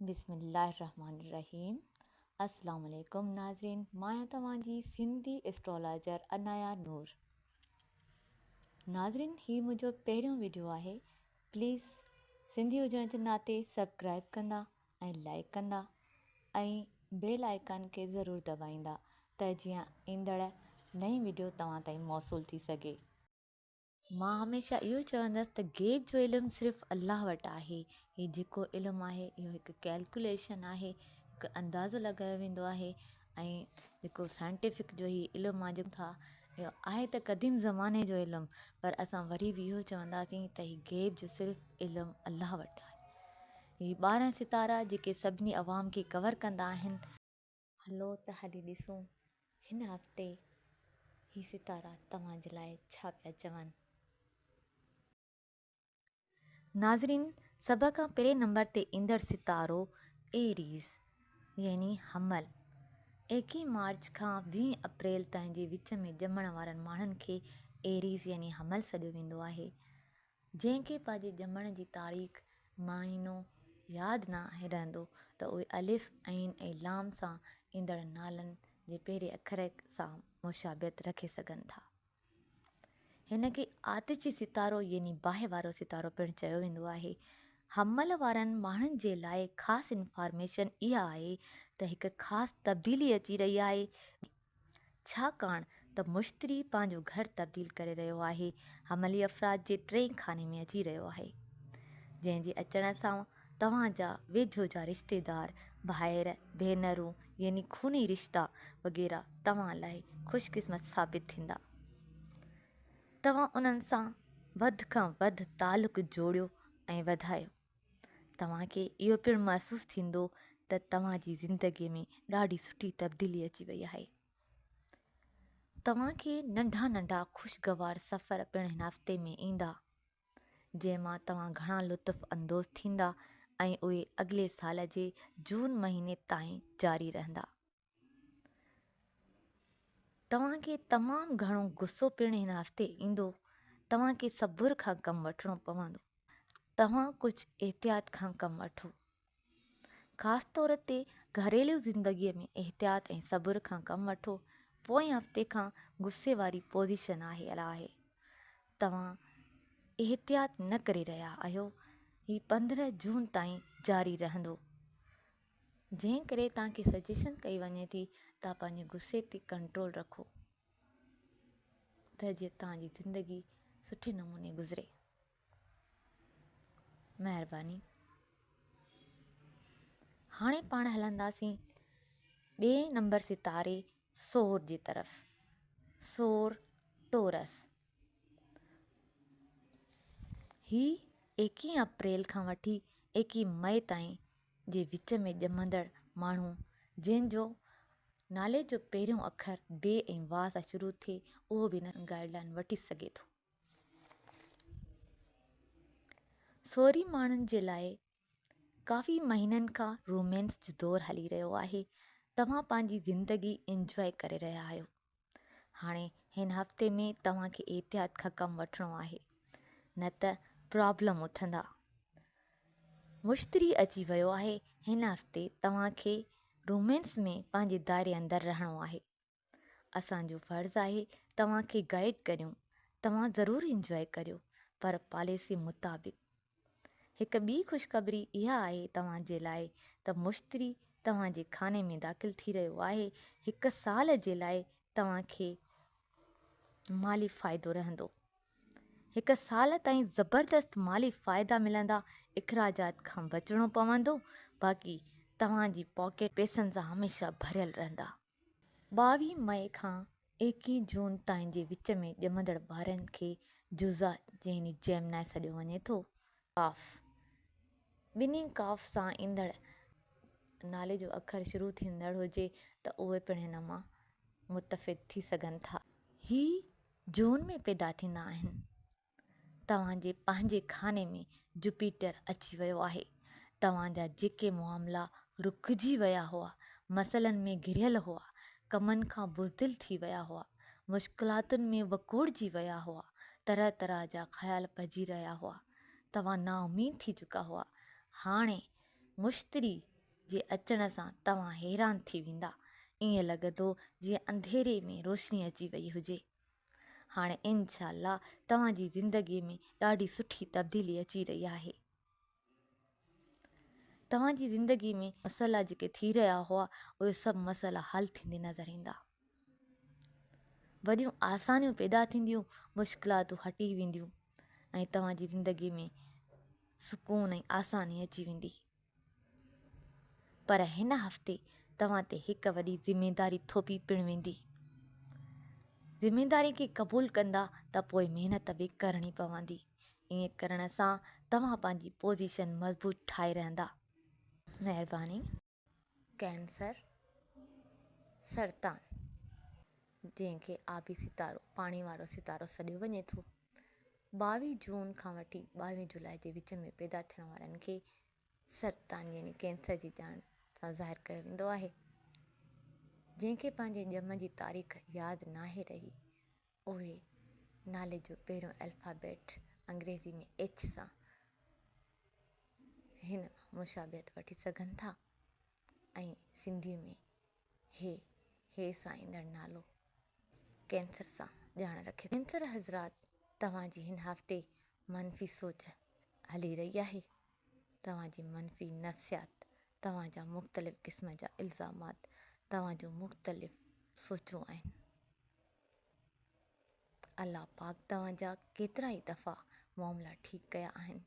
بسم الله الرحمن الرحيم السلام عليڪم ناظرين مان آهيان توهان جي سنڌي اسٽرالاجر انايا نور ناظرين هي منهنجو پهريون ويڊيو آهي پليز سنڌي هجڻ جي ناتي سبسڪرائب ڪندا ۽ لائڪ ڪندا ۽ بيل آئڪان کي ضرور دٻائيندا ته جيئن ايندڙ نئين ويڊيو توهان تائين موصول ٿي سگهي مان هميشه اهو چوندس ته غيب جو علم صرف الله وٽ آهي هي جيڪو علم آهي اهو هڪ ڪيلڪوليشن آهي هڪ اندازو لڳايو ويندو آهي ۽ جيڪو سائنٽيفڪ جو هي علم آهي جيڪو ٿا اهو آهي ته قديم زماني جو علم پر اسان وري به اهو چونداسين ته هي غيب جو صرف علم الله وٽ آهي هي ٻارهن ستارا جيڪي سڀني عوام کي ڪور ڪندا آهن هلو ته هلي ڏسون هن هفتي هي ستارا توهان جي لاء ڇا پيا چون. ناظرين سڀ کان پهرين نمبر تي ايندڙ ستارو ايريز يعني حمل ايڪيهه مارچ کان ويهه اپريل تائين جي وچ ۾ ڄمڻ وارن ماڻهن کي ايريز يعني حمل سڏيو ويندو آهي جنهن کي پنهنجي ڄمڻ جي تاريخ، مهينو، ياد نه آهي رهندو ته اهي الف، عين ۽ لام سان ايندڙ نالن جي پهرين اکر سان مشابهت رکي سگهن ٿا. هن کي آتشي ستارو يعني باهه وارو ستارو پڻ چيو ويندو آهي. حمل وارن ماڻهن جي لاء خاص انفارميشن اها آهي ته هڪ خاص تبديلي اچي رهي آهي. ڇاڪاڻ ته مشتري پنهنجو گهر تبديل ڪري رهيو آهي، حملي افراد جي ٽئين خاني ۾ اچي رهيو آهي، جنهن جي اچڻ سان توهان جا ويجهو جا رشتيدار، ڀائر، ڀينرون يعني خوني رشتا وغيره توهان لاء خوش قسمت ثابت ٿيندا. توهان انهن سان وڌ کان وڌ تعلق جوڙيو ۽ وڌايو. توهان کي اهو پڻ محسوس ٿيندو ته توهان جي زندگي ۾ ڏاڍي سٺي تبديلي اچي وئي آهي توهان کي ننڍا ننڍا خوشگوار سفر پڻ هن هفتي ۾ ايندا جنهن مان توهان گهڻا لطف اندوز ٿيندا ۽ اهي اڳلي سال جي جون مهيني تائين جاري رهندا توهان کي تمام گهڻو غصو پڻ هن هفتي ايندو توهان کي صبر کان ڪم وٺڻو پوندو توهان ڪجهه احتياط کان ڪم وٺو خاص طور تي گهريلو زندگي ۾ احتياط ۽ صبر کان ڪم وٺو پوئين هفتي کان غصي واري پوزيشن آهي الا آهي توهان احتياط نه ڪري رهيا آهيو هي پندرهن جون تائين جاري رهندو جنهن ڪري توهان کي سجيشن ڪئي وڃي ٿي توهان پنهنجي غصي تي ڪنٽرول رکو ته جيئن توهان جي زندگي سٺي نموني گذري. مهرباني. هاڻي پاڻ هلنداسين ٻئي نمبر ستاري سور جي طرف سور ٽورس هي ايڪي اپريل کان وٺي ايڪي مئي تائين جي وچ ۾ ڄمندڙ ماڻهو جنهن جو نالي جو پهريون اکر بي ۽ وا سان شروع ٿئي اهو به هن گائيڊ لائين وٺي سگهي ٿو. سورهيه ماڻهن جي لاء ڪافي مهينن کان رومينس جو دور هلي رهيو آهي توهان پنهنجي زندگي انجوائي ڪري رهيا آهيو هاڻي هن هفتي ۾ توهان کي احتياط کان ڪم وٺڻو آهي نه ته پرابلم اٿندا مشتري اچي ويو آهي هن هفتي توهان کي رومينس ۾ پنهنجي دائري اندر رهڻو آهي اسانجو فرض آهي توهان کي گائيڊ ڪريون توهان ضرور انجوائي ڪريو پر پاليسي مطابق هڪ ٻي خوشخبري اها آهي توهان جي لاء ته مشتري توهان جي خاني ۾ داخل ٿي رهيو آهي. هڪ سال جي لاء توهان کي مالي فائدو رهندو. هڪ سال تائين زبردست مالي فائدا ملندا، اخراجات کان بچڻو پوندو، باقي توهان جي پاڪيٽ پيسن سان هميشه ڀريل رهندا. ٻاوهين مئي کان ايڪيهه جون تائين جي وچ ۾ ڄمندڙ ٻارن کي جوزا يعني جيمنائي سڏيو وڃي ٿو. قاف، ٻنهي قاف سان ايندڙ نالي جو اکر شروع ٿيندڙ هجي ته اهي پڻ هن مان متفد ٿي سگهن ٿا. هي جون ۾ پيدا ٿيندا آهن. توهان جي پنهنجي خاني ۾ جوپيٽر اچي ويو آهي. توهان جا جيڪي معاملا رڪجي ويا هئا، مسئلن ۾ گهريل هئا، ڪمن کان بزدل ٿي ويا هئا، مشڪلاتن ۾ وڪوڙجي ويا هئا، طرح طرح جا خيال پئجي رهيا هئا، توهان نااميد ٿي چڪا هئا، هاڻي مشتري جي اچڻ سان توهان حيران ٿي ويندا، ائين لڳندو جيئن انڌيري ۾ روشني اچي وئي هجي. هاڻي انشاء الله توهان جي زندگي ۾ ڏاڍي سٺي تبديلي اچي رهي آهي. توهان جي زندگي ۾ مسئلا جيڪي ٿي رهيا هئا اهي سڀ مسئلا حل ٿيندي نظر ايندا. وڏيون آسانيون پيدا ٿينديون مشڪلاتون هٽي وينديون ۽ توهان جي زندگي ۾ سڪون ۽ آساني اچي ويندي. پر هن هفتي توهان تي هڪ وڏي ذميداري ٿوپي پڻ ويندي. ذميداري کي قبول ڪندا ته پوء محنت به ڪرڻي پوندي. ائين ڪرڻ سان توهان پنهنجي پوزيشن مضبوط ٺاهي رهندا. مهرباني. ڪينسر، سرطان، جنهن کي آبي ستارو، پاڻي وارو ستارو، سڏيو وڃي ٿو، ٻاويهه جون کان وٺي ٻاويهه جولاء جي وچ ۾ پيدا ٿيڻ وارن کي سرطان يعني ڪينسر جي ڄاڻ سان ظاهر ڪيو ويندو آهي. جنهن کي پنهنجي ڄم جي تاريخ ياد ناهي رهي اهي نالي جو پهريون الفابيٽ انگريزي ۾ ايڇ سان هن مان مشابهت وٺي سگهن ٿا ۽ سنڌي ۾ هي هي سائيندڙ نالو ڪينسر سان ڄاڻ رکي ٿو. ڪينسر حضرات توهان جي هن هفتي منفي سوچ هلي رهي آهي توهان جي منفي نفسيات توهان جا مختلف قسم جا الزامات توهان جون مختلف سوچون آهن الله پاڪ توهان جا ڪيترائي دفعا معاملا ٺيڪ ڪيا آهن.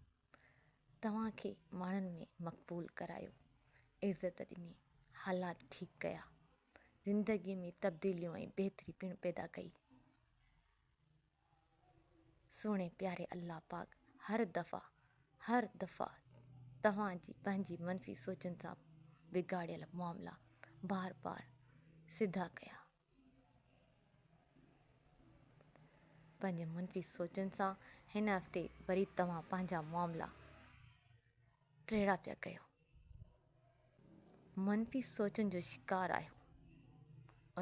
توهان کي ماڻهن ۾ مقبول ڪرايو، عزت ڏني، حالات ٺيڪ ڪيا، زندگيء ۾ تبديليون ۽ بهتري پڻ پيدا ڪئي. سهڻي پياري الله پاڪ هر دفعا هر دفعا توهان جي پنهنجي منفي سوچن سان بگاڙيل معاملا بار بار سڌا ڪيا. پنهنجي منفي سوچن سان هن هفتي وري توهان پنهنجا معاملا ٽيڙا پيا ڪيو منفي سوچن جو شڪار آهيو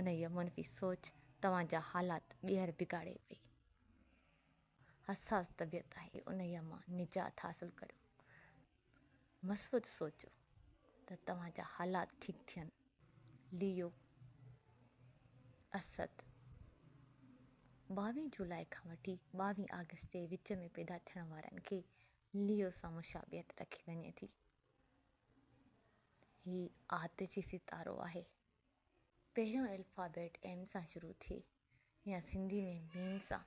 ان هي منفي سوچ توهان جا حالات ٻيهر بگاڙي پئي حساس طبيعت آهي ان هي مان نجات حاصل ڪريو مثبت سوچو ته توهان جا حالات ٺيڪ ٿين. ليو، اسد، ٻاوهين جولاء کان وٺي ٻاوهين آگسٽ جي وچ ۾ پيدا ٿيڻ وارن کي ليو سان مشابهت رکي وڃي ٿي. هي آتشي ستارو آهي. پهريون الفابيٽ ايم سان شروع ٿئي يا سنڌي ۾ ميم سان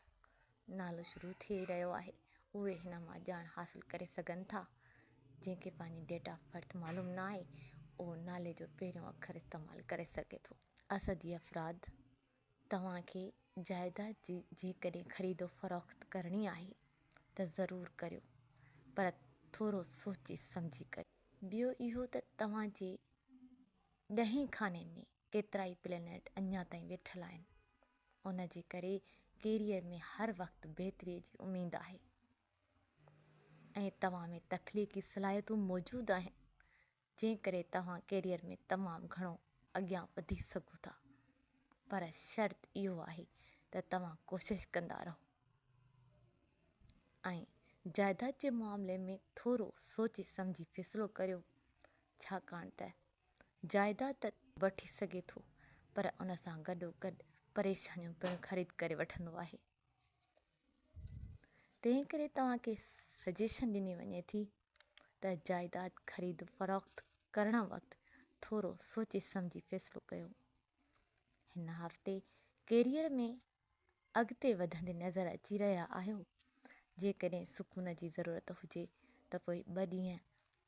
نالو شروع ٿئي رهيو آهي اهي هن مان ڄاڻ حاصل ڪري سگهن ٿا جنهن کي پنهنجي ڊيٽ آف برٿ معلوم نه آهي اهو نالي جو پهريون اکر استعمال ڪري سگهي ٿو اسدي افراد توهان کي جائيداد جي جيڪڏهن خريد و فروخت ڪرڻي آهي ته ضرور ڪريو پر ٿورو سوچي سمجهي ڪريو ٻيو اهو ته توهان جي ڏهين خاني ۾ ڪيترائي پلينيٽ اڃا تائين ويٺل آهن، ان جي ڪري ڪيريئر ۾ هر وقت بهتري جي اميد آهي ۽ توهان ۾ تخليقي صلاحيتون موجود آهن، جنهن ڪري توهان ڪيريئر ۾ تمام گهڻو اڳيان وڌي سگهو ٿا، پر شرط اهو آهي ته توهان ڪوشش ڪندا رهو ۽ جائداد جي معاملي ۾ ٿورو سوچي سمجهي فيصلو ڪريو، ڇاڪاڻ ته جائداد ته وٺي سگهي ٿو پر ان سان گڏوگڏ پريشانيون پڻ خريد ڪري وٺندو آهي. تنهن ڪري توهان کي سجيشن ڏني وڃي ٿي ته جائداد خريد فروخت ڪرڻ وقت ٿورو سوچي سمجهي فيصلو ڪيو. هن هفتي ڪيريئر ۾ اڳتي وڌندي نظر اچي رهيا آهيو. جيڪڏهن سڪون جي ضرورت هجي ته پوء ٻه ڏينهن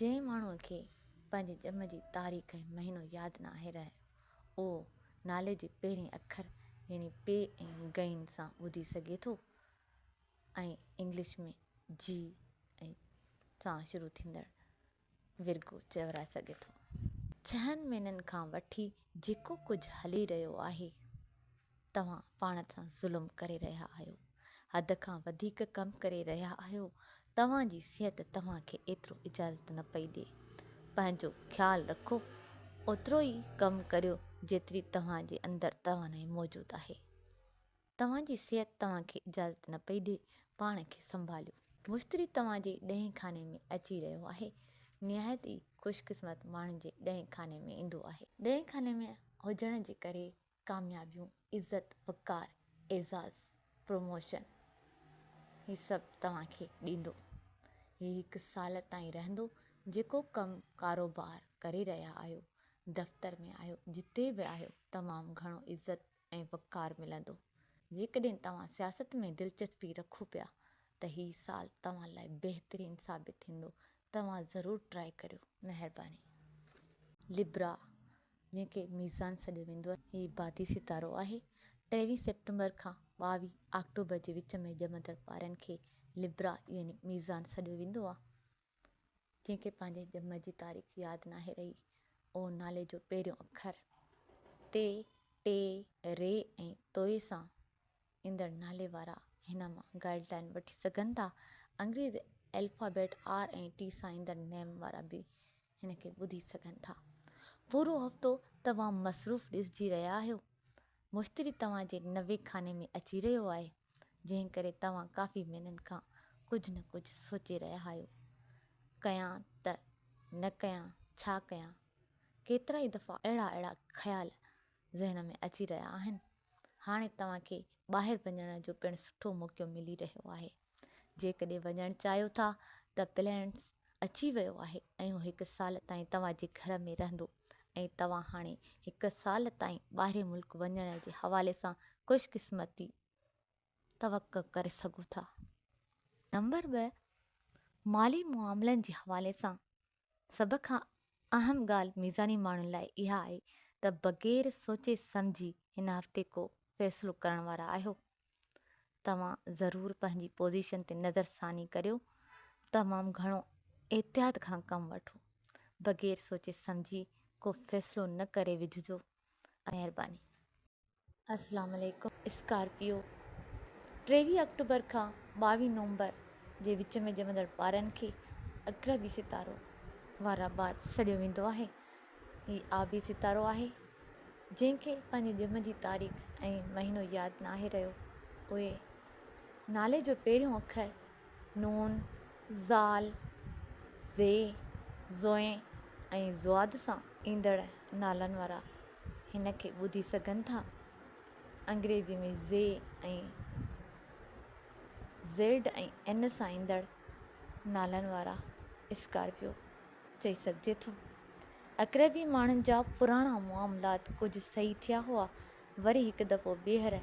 جنهن ماڻهوء کي پنهنجي ڄم جي تاريخ ۽ مهينو ياد ناهي رهيو، اهو نالي جي پهرين اکر يعني پي ۽ غين سان ٻڌي سگهي ٿو ۽ انگلش ۾ جي ۽ سان شروع ٿيندڙ Virgo چورائي سگهي ٿو. ڇهن مهينن کان وٺي جيڪو ڪجهه هلي رهيو آهي. توهان پاڻ تي ظلم ڪري رهيا آهيو، حد کان وڌيڪ ڪم ڪري رهيا آهيو، توهان جي صحت توهان کي ايترو اجازت نه پئي ڏي، پنهنجو خيال رکو، اوترو ئي ڪم ڪريو جيتري توهان جي اندر توانائي موجود آهي، توهان جي صحت توهان کي اجازت نه پئي ڏي، پاڻ کي سنڀاليو. مشتري توهان جي ڏهين خاني ۾ اچي رهيو آهي، نهايت ئي خوش قسمت ماڻهن جي ڏهين خاني ۾ ايندو آهي، ڏهين خاني ۾ هجڻ جي ڪري ڪاميابيون، عزت، وقار، اعزاز، پروموشن هي سڀ توهان کي ڏيندو. هي هڪ سال تائين رهندو، جيڪو ڪم ڪاروبار ڪري رهيا آهيو، دفتر ۾ آهيو، جتي به آهيو تمام گهڻو عزت ۽ وقار ملندو. جيڪڏهن توهان سياست ۾ دلچسپي رکو پيا ته هي سال توهان لاء بهترين ثابت ٿيندو توهان ضرور ٽرائي ڪريو. مهرباني. لبرا، جنهن کي ميزان سڏيو ويندو آهي، هي بادي ستارو آهي. ٽيويهه سيپٽمبر کان ٻاويهه آڪٽوبر جي وچ ۾ ڄمندڙ ٻارن کي لبرا يعني ميزان سڏيو ويندو آهي. جنهن کي پنهنجي ڄم جي تاريخ ياد ناهي رهي. او نالي جو پهريون اکر تي، ٽي، ري ۽ توي سان ايندڙ نالي وارا هن مان گائيڊ لائين وٺي سگهن ٿا. انگريزي الفابيٽ آر ۽ ٽي سان ايندڙ نيم وارا به هن کي ٻڌي سگهن ٿا. پورو هفتو توهان مصروف ڏسجي رهيا آهيو. مشتري توهان جي نوي خاني ۾ اچي رهيو آهي، جنهن ڪري توهان ڪافي مهينن کان ڪجهه نه ڪجهه سوچي رهيا آهيو، ڪيان ته نه ڪيان، ڇا ڪيان؟ ڪيترائي دفعا اهڙا اهڙا خيال ذهن ۾ اچي رهيا آهن. هاڻي توهان کي ٻاهر وڃڻ جو پڻ سٺو موقعو ملي رهيو آهي. جيڪڏهن وڃڻ چاهيو ٿا ته پلينس اچي ويو آهي ۽ هو هڪ سال تائين توهان جي گهر ۾ رهندو ۽ توهان هاڻي هڪ سال تائين ٻاهرين ملڪ وڃڻ جي حوالي سان خوش قسمتي توقع ڪري سگهو ٿا. نمبر ٻه، مالي معاملن جي حوالي سان سڀ کان اهم ڳالهه ميزاني ماڻهن لاء اها آهي ته بغير سوچي سمجهي هن هفتي ڪو فيصلو ڪرڻ وارا آهيو. توهان ضرور پنهنجي پوزيشن تي نظر ثاني ڪريو. تمام گهڻو احتياط کان ڪم وٺو. بغير سوچي سمجهي ڪو فيصلو نه ڪري وجهجو. مهرباني. اسلام عليڪم اسڪارپيو ٽيويهه آڪٽوبر کان ٻاويهه نومبر جي وچ ۾ ڄمندڙ ٻارن کي اقربي ستارو وارا ٻار سڏيو ويندو آهي هي آبي ستارو آهي جنهن کي پنهنجي ڄم جي تاريخ ۽ مهينو ياد ناهي رهيو اهي نالي جو پهريون اکر نون زال زي زوئين ۽ زواد سان ايندڙ نالن وارا هن کي ٻڌي سگهن ٿا. انگريزي ۾ زي ۽ زيڊ ۽ اين سان ايندڙ نالن وارا اسڪارپيو چئي سگهجي ٿو. اڪريبي ماڻهن جا پراڻا معاملات ڪجهه صحيح ٿيا هئا، وري هڪ دفعو ٻيهر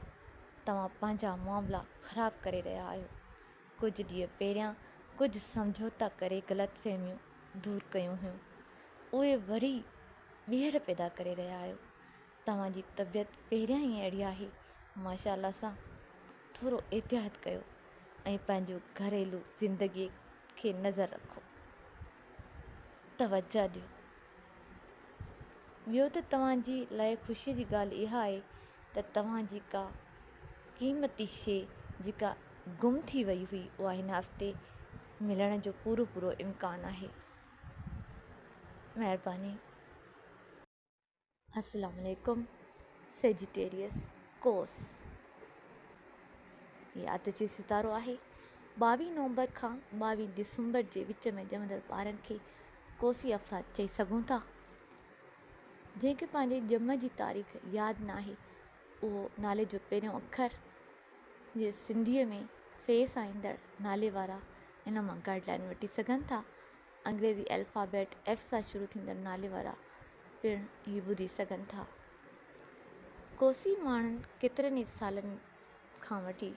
توهان پنهنجا معاملا خراب ڪري رهيا آهيو. ڪجهه ڏينهن پهريان ڪجهه سمجهوتا ڪري غلط فهميون دور ڪيون هيون، اهي وري ٻيهر پيدا ڪري رهيا آهيو توهان جي طبيعت پهريان ئي اهڙي آهي ماشاء الله سان ٿورو احتياط ڪيو ۽ پنهنجو گهريلو زندگي کي نظر رکو توجه ڏيو ٻيو ته توهان جي لاء خوشي جي ڳالهه اها آهي ته توهان جي ڪا قيمتي شي جيڪا گم ٿي وئي هئي اها هن هفتي ملڻ جو پورو پورو امڪان آهي مهرباني. السلام عليڪم سيجيٽيريس ڪوس هي آت جي ستارو آهي ٻاويهه نومبر کان ٻاويهه ڊسمبر جي وچ ۾ ڄمندڙ ٻارن کي ڪوسي افراد چئي سگهون ٿا جنهن کي پنهنجي ڄم جي تاريخ ياد ناهي اهو نالي جو پهريون اکر جي سنڌيء ۾ فيس آئيندڙ نالي وارا ان مان گائيڊ لائين وٺي سگهن ٿا. انگريزي الفابيٽ ايف سان شروع ٿيندڙ نالي وارا پڻ هي ٻڌي سگهن ٿا. ڪوسي ماڻهن ڪيترن ئي سالن کان وٺي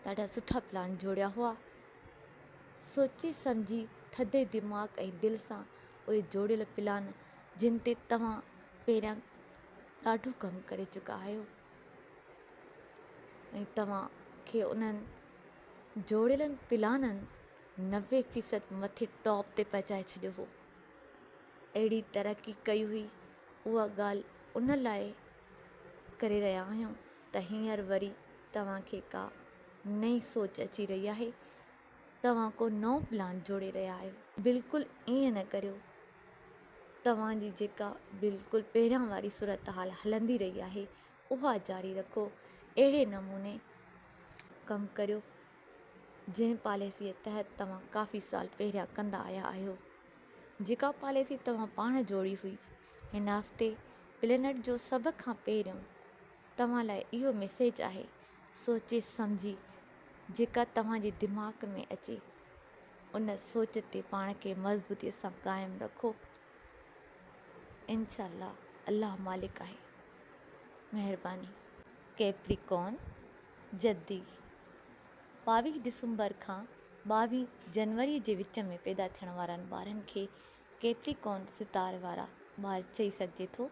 ڏاڍا سٺا پلان جوڙيا هئا. سوچي سمجهي ٿڌي دماغ ۽ دل سان اهي جوڙيل پلان جن تي توهان پهريان ڏاڍو ڪم ڪري چڪا آهيو. ۽ توهان کي انهن جوڙيلن پلانن نوي فيصد مٿي ٽاپ تي پهچائي ڇڏيو هو. اهڙي ترقي ڪئي هئي، اها ڳالهه ان لاء ڪري رهيا آهيون ته هينئر وري توهان کي ڪا نئين سوچ اچي رهي آهي توهان ڪو نئون پلان جوڙي رهيا آهيو. بلڪل ائين نه ڪريو. توهان جي جيڪا بلڪل پهريان واري صورتحال هلندي رهي آهي اها جاري رکو. اهڙي نموني ڪم ڪريو جنهن پاليسيء تحت توهان ڪافي سال پهريان ڪندا آيا آهيو. جيڪا پاليسي توهان پاڻ جوڙي هئي. هن هفتي پلينٽ جو سڀ کان پهريون توهان لاء اهو ميسيج آهي، سوچي سمجهي جيڪا توهان جي دماغ ۾ اچي ان سوچ تي پاڻ کي مضبوطي سان قائم رکو انشاء الله الله مالڪ آهي مهرباني. ڪيپريڪون جدي ٻاويهه ڊسمبر کان ٻاويهه جنوري جي وچ ۾ پيدا ٿيڻ وارن ٻارن کي ڪيپريڪون ستاري وارا ٻار چئي سگهجي ٿو.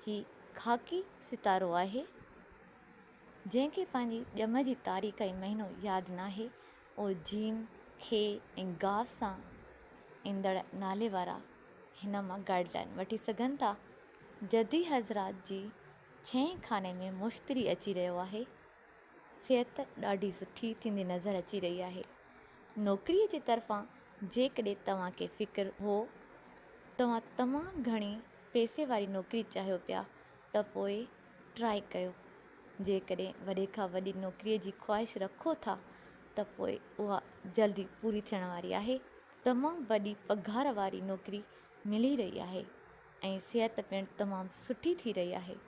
هي خاڪي ستارو آهي، جنهن کي پنهنجي ڄم جي تاريخ ۽ مهينو ياد ناهي. او جيم، خي ۽ گاف سان ايندڙ نالي وارا هن مان گائيڊ لائين وٺي سگهن ٿا. جدي حضرات جي ڇهين خاني ۾ مشتري اچي رهيو آهي. صحت ڏاڍي سٺي ٿيندي نظر اچي رهي آهي. نوڪريء جي طرفان جيڪڏهن توهان کي فڪر هو، توهان تمام گهڻي پئسي واري نوڪري چاهيو پيا ته پوء ٽرائي ڪيو. جيڪڏهن وڏي کان وڏي نوڪريء جي خواهش رکو ٿا ته پوء اها جلد ئي پوري ٿيڻ واري آهي. تمام وڏي پگهار واري نوڪري ملي رهي آهي ۽ صحت پڻ تمام سٺي ٿي رهي آهي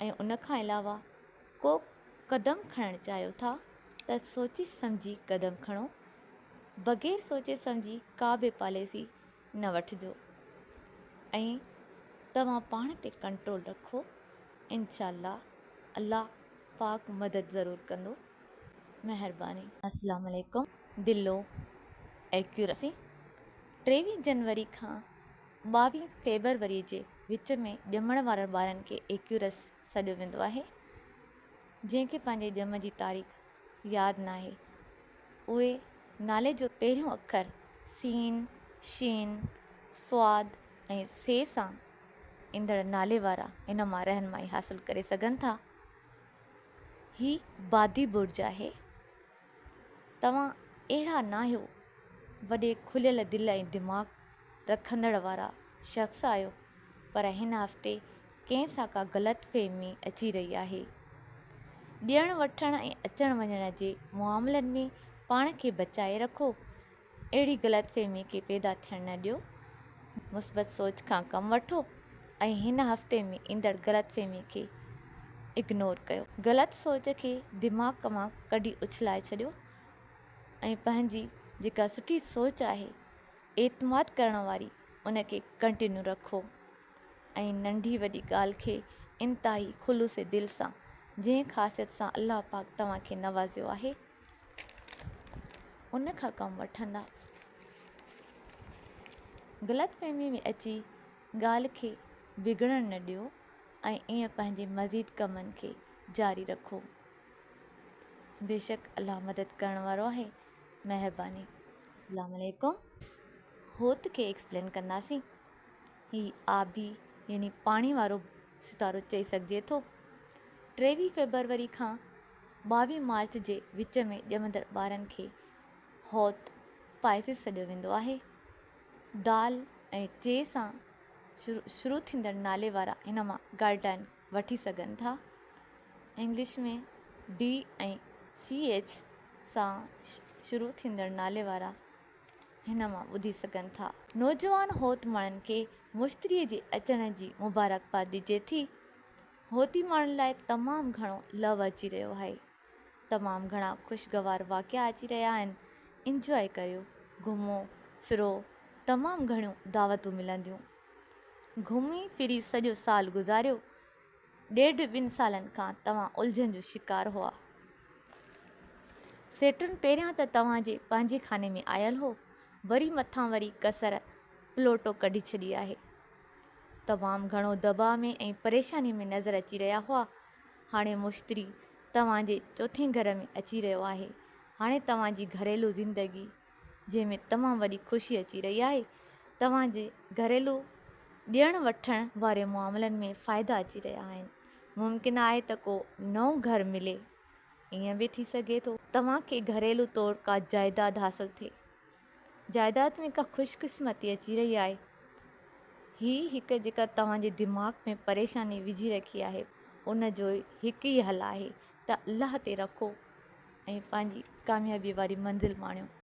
۽ ان کان علاوه ڪو قدم کڻڻ چاهيو ٿا ته سوچي سمجهي قدم کڻو، بغير سوچي سمجهي ڪا به پاليسي نه وٺجو ۽ توهان پاڻ تي ڪنٽرول رکو انشاء الله الله پاڪ مدد ضرور ڪندو مهرباني. السلام عليڪم دلو ايڪيورسي ٽيويهه جنوري کان ٻاوهه فيبروري جي وچ ۾ ڄمڻ وارن ٻارن کي ايڪيورسي سڏيو ويندو آهي جنهن کي پنهنجي ڄم جي تاريخ ياد ناهي اهي نالي جو پهريون اکر سين، شين، صاد ۽ سي سان ايندڙ نالي وارا ان مان رهنمائي حاصل ڪري سگهن ٿا. هي بادي برج آهي. توهان اهڙا ناهيو وڏي کليل دل ۽ دماغ رکندڙ وارا شخص آهيو پر هن هفتي ڪنهن سان ڪا غلط فهمي اچي رهي آهي ڏيڻ وٺڻ ۽ اچڻ وڃڻ جي معاملن ۾ پاڻ کي بچائي رکو اهڙي غلط فهمي کي پيدا ٿيڻ نه ڏيو، مثبت سوچ کان ڪم وٺو ۽ هن هفتي ۾ ايندڙ غلط فهمي کي اگنور ڪيو. غلط سوچ کي دماغ مان ڪڍي اڇلائي ڇڏيو ۽ پنهنجي جيڪا سٺي سوچ آهي، اعتماد ڪرڻ واري، ان کي ڪنٽينيو رکو ۽ ننڍي وڏي ڳالهه کي انتهائي خلوص دل سان جنهن خاصيت سان الله پاڪ توهان کي نوازيو آهي، ان کان ڪم وٺندا. غلط فهمي ۾ اچي ڳالهه کي بگڙڻ نه ڏيو ۽ ائين پنهنجي مزيد ڪمن کي جاري رکو. بيشڪ الله مدد ڪرڻ وارو آهي مهرباني. اسلام عليڪم هوت کي ايڪسپلين ڪنداسين هي آبي يعني پاڻي وارو ستارو چئي سگهجي ٿو ٽيويهه فيبروري کان ٻاوهين مارچ جي وچ ۾ ڄمندڙ ٻارن کي هوت پائسز سڏيو ويندو آهي. دال ۽ چي سان شروع ٿيندڙ نالي وارا هن مان گارڊائن وٺي سگهن ٿا. انگلش ۾ ڊي ۽ سي ايڇ سان شروع ٿيندڙ نالي وارا هن مان ٻڌي سگهن ٿا. نوجوان هوت ماڻهن کي مشتريء جي اچڻ جي مبارڪباد ڏجي ٿي. هوتي ماڻهن لاء تمام گهڻو لو اچي رهيو آهي تمام گهڻا خوشگوار واقعا اچي رهيا آهن انجواء ڪريو گهمو ڦرو تمام گهڻيون دعوتون ملنديون گهمي ڦري سڄو سال گذاريو ڏيڍ ٻن سالن کان توهان الجهن جو شڪار هئا سيٽرن پهريان ته توهان جي پنهنجي خاني ۾ آيل هو وري مٿان وري ڪسر پلوٽو ڪڍي ڇڏي آهي تمام گهڻو دٻاء ۾ ۽ پريشاني ۾ نظر اچي رهيا هئا. هاڻي مشتري توهان جي چوٿين گهر ۾ اچي رهيو آهي. هاڻي توهان جي گهريلو زندگي جنهن ۾ تمام وڏي خوشي اچي رهي آهي. توهان جي گهريلو ڏيڻ وٺڻ واري معاملن ۾ فائدا اچي رهيا آهن. ممڪن آهي ته ڪو نئون گهر ملي. ائين به ٿي سگهي ٿو. توهان کي گهريلو طور ڪا جائداد حاصل ٿئي. جائداد ۾ ڪا خوش قسمتي اچي رهي آهي. هي هڪ جيڪا توهان جي دماغ ۾ پريشاني وجهي رکي آهي ان جو هڪ ئي حل آهي ته الله تي رکو ۽ پنهنجي ڪاميابي واري منزل ماڻيو.